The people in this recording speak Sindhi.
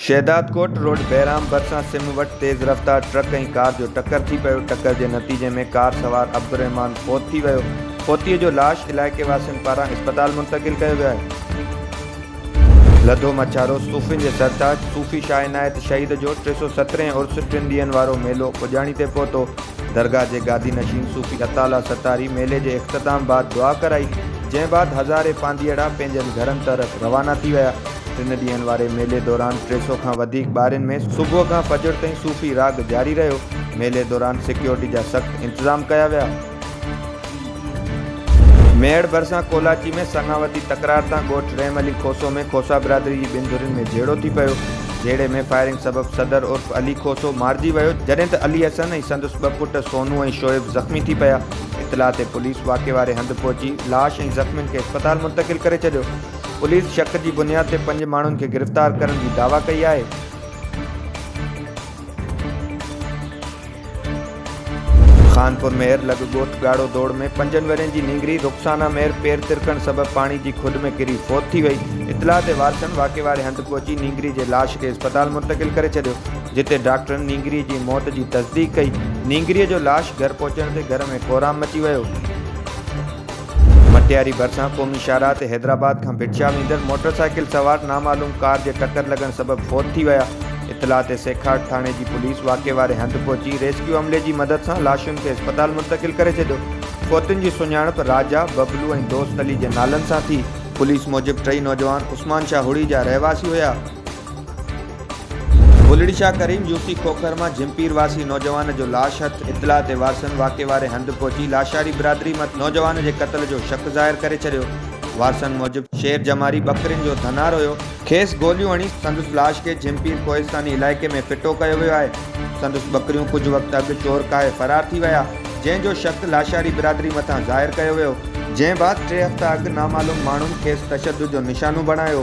شهدادڪوٽ روڊ بهرام ڀرسان سم وٽ تيز رفتار ٽرڪ ۽ ڪار جو ٽڪر ٿي پيو ٽڪر جي نتيجي ۾ ڪار سوار عبدالرحمان فوت ٿي ويو فوتي جو لاش علائقي واسين پاران اسپتال منتقل ڪيو ويو آهي لڌو مڇارو، صوفين جي سرتاج صوفي شاهه عنايت شهيد جو ٽي سؤ سترهين عرس ٽن ڏينهن وارو ميلو پڄاڻي تي پهتو، درگاهه جي گادي نشين صوفي عطا الله ستاري ميلي جي اختتام بعد دعا ڪرائي، جنهن بعد هزارين پانڌيئڙا پنهنجن گهرن طرف روانا ٿي ويا، ٽن ڏينهن واري ميلي دوران ٽي سؤ کان وڌيڪ ٻارين ۾ صبح کان فجر تائين صوفي راڳ جاري رهيو، ميلي دوران سيڪيورٽي جا سخت انتظام ڪيا ويا. ميڙ ڀرسان ڪولاچي ۾ سڱاوتي تڪرار تان ڳوٺ رحم علي کوسو ۾ کوسا برادري جي ٻن ڌرين ۾ جهيڙو ٿي پيو، جهيڙي ۾ فائرنگ سبب صدر عرف علي کوسو مارجي ويو، جڏهن ته علي حسن ۽ سندس ٻه پٽ سونو ۽ شعيب زخمي ٿي پيا، اطلاع تي پوليس واقعي واري هنڌ پهچي لاش ۽ زخمين کي اسپتال منتقل ڪري ڇڏيو، پوليس شڪ جي بنياد تي پنج ماڻهن کي گرفتار ڪرڻ جي دعويٰ ڪئي آهي. خانپور مير لڳ ڳوٺ ڳاڙهو دوڙ ۾ پنجن ورهين جي نينگري رخسانا مير پير ترڪڻ سبب پاڻي جي کڏ ۾ ڪري فوت ٿي وئي، اطلاع تي وارثن واقعي واري هنڌ پهچي نينگري جي لاش کي اسپتال منتقل ڪري ڇڏيو، جتي ڊاڪٽرن نينگري جي موت جي تصديق ڪئي، نينگري جو لاش گهر پهچڻ تي گهر ۾ ڪورام مچي ويو. مٽياري ڀرسان قومي شاهراهه تي حيدرآباد کان ڀٽشاهه ويندڙ موٽرسائيڪل سوار نامعلوم ڪار جي ٽڪر لڳڻ سبب فوت ٿي ويا. اطلاع تي سيکاٽ ٿاڻي جي پوليس واقعي واري هنڌ پهچي ريسڪيو عملي جي مدد سان لاشن کي اسپتال منتقل ڪري ڇڏيو. فوتين جي سڃاڻپ راجا، ببلو ۽ دوست علي جي نالن سان ٿي. پوليس موجب ٽئي نوجوان عثمان شاهه هڙي جا رهواسي هيا. ڀولڙي شاهه ڪريم يوسي کوکر مان جھمپير واسي نوجوان جو لاش هٿ اطلاع تي وارثن واقعي واري هنڌ پهچي لاشاري برادري مٿ نوجوان جي قتل جو شڪ ظاهر ڪري ڇڏيو وارثن موجب شير جماري ٻڪرين جو ڌنار هيو کيس گوليون هڻي سندس لاش کي جھمپير ڪوهستاني علائقي ۾ ڦٽو ڪيو ويو آهي سندس ٻڪريون ڪجهه وقت اڳ چور ڪاهي فرار ٿي ويا جنهن جو شڪ لاشاري برادري مٿان ظاهر ڪيو ويو جنهن بعد ٽي هفتا اڳ نامعلوم ماڻهن کيس تشدد جو نشانو بڻايو